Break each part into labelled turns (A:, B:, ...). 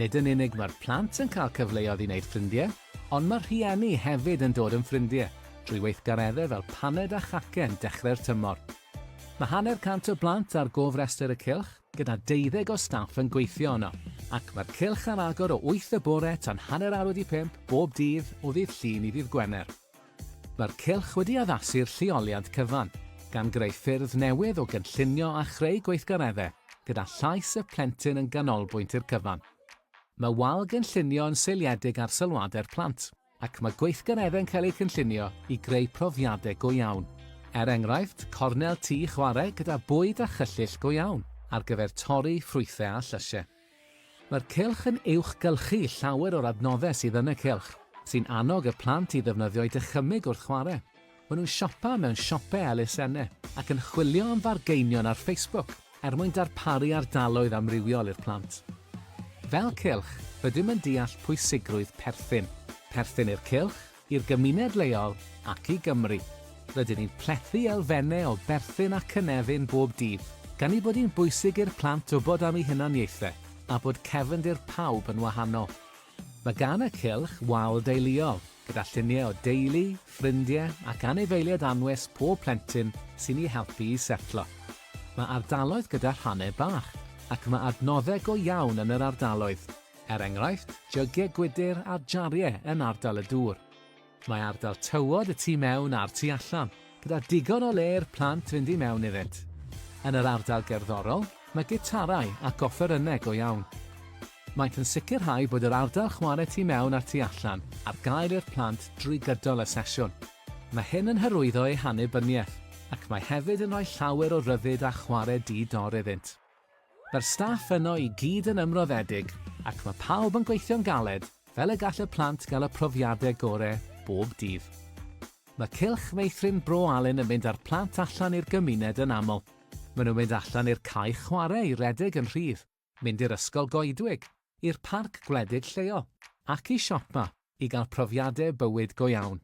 A: Nid yn unig mae'r plant yn cael cyfleoedd i wneud ffrindiau, ond mae'r rhieni hefyd yn dod yn ffrindiau drwy weithgareddau fel paned a chacen dechrau'r tymor. Mae hanner cant o blant ar gofrestr y cylch, gyda deuddeg o staff yn gweithio yno, ac mae'r cylch ar agor o wyth y bore tan hanner awr wedi pump bob dydd o ddydd Llun i ddydd Gwener. Mae'r cylch wedi addasu'r lleoliad cyfan, gan greu ffyrdd newydd o gynllunio a chreu gweithgareddau, gyda llais y plentyn yn ganolbwynt i'r cyfan. Mae wal gynllunio yn seiliedig ar sylwadau'r plant, ac mae gweithgareddau'n cael eu cynllunio i greu profiadau go iawn. Er enghraifft, cornel tŷ chwarae gyda bwyd a chyllyll go iawn ar gyfer torri ffrwythau a llysiau. Mae'r cylch yn uwchgylchu llawer o'r adnoddau sydd yn y cylch, sy'n annog y plant i ddefnyddio'u dychymyg wrth chwarae. Maen nhw'n siopa mewn siopau elusenne ac yn chwilio am fargeinion ar Facebook er mwyn darparu ardaloedd amrywiol i'r plant. Fel cylch, rydym yn deall pwysigrwydd perthyn. Perthyn i'r cylch, i'r gymuned leol ac i Gymru. Rydyn ni'n plethu elfennau o berthyn a cynefin bob dydd, gan ei bod hi'n bwysig i'r plant wybod am eu hunaniaethau a bod cefndir pawb yn wahanol. Mae gan y cylch wal deuluol, gyda lluniau o deulu, ffrindiau ac anifeiliaid anwes pob plentyn sy'n eu helpu i setlo. Mae ardaloedd gyda rhannau bach, ac mae adnoddau go iawn yn yr ardaloedd. Er enghraifft, jygiau gwydr a jariau yn ardal y dŵr. Mae ardal tywod y tu mewn a'r tu allan, gyda digon o le i'r plant fynd i mewn iddynt. Yn yr ardal gerddorol, mae gitarau ac offerynnau go iawn. Maent yn sicrhau bod yr ardal chwarae tu mewn a'r tu allan ar gael i'r plant drwy gydol y sesiwn. Mae hyn yn hyrwyddo eu hannibyniaeth ac mae hefyd yn rhoi llawer o ryddid a chwarae di-dor iddynt. Mae'r staff yno i gyd yn ymroddedig ac mae pawb yn gweithio'n galed fel y gall y plant gael y profiadau gorau bob dydd. Mae Cylch Meithrin Bro Alun yn mynd â'r plant allan i'r gymuned yn aml. Maen nhw'n mynd allan i'r cae chwarae i redeg yn rhydd, mynd i'r ysgol goedwig, i'r parc gwledig lleol ac i siopa i gael profiadau bywyd go iawn.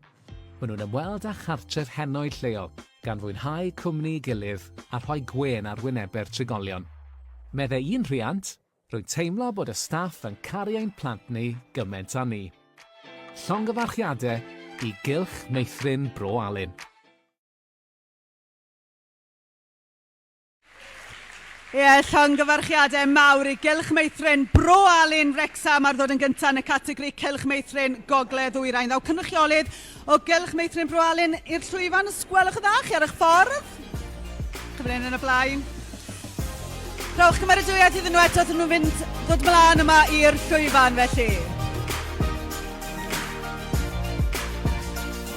A: Maen nhw'n ymweld â chartref henoed lleol, gan fwynhau cwmni'i gilydd a rhoi gwên ar wynebe'r trigolion. Meddai un rhiant, Rwy'n teimlo bod y staff yn caru ein plant ni gymaint â ni. Llongyfarchiadau i Gylch Meithrin Bro Alun. Ie, llongyfarchiadau mawr i Gylch Meithrin Bro Alun, Wrecsam ar ddod yn gyntaf yn y categori Cylch Meithrin Gogledd Ddwyrain. Ddaw cynrychiolydd o Gylch Meithrin Bro Alun i'r llwyfan, os gwelwch yn dda, chi ar eich ffordd. Cyfleu'n yn y blaen. Rhowch cymeradwyaeth iddyn nhw eto wrth nhw'n fynd ddod mlaen yma i'r llwyfan felly.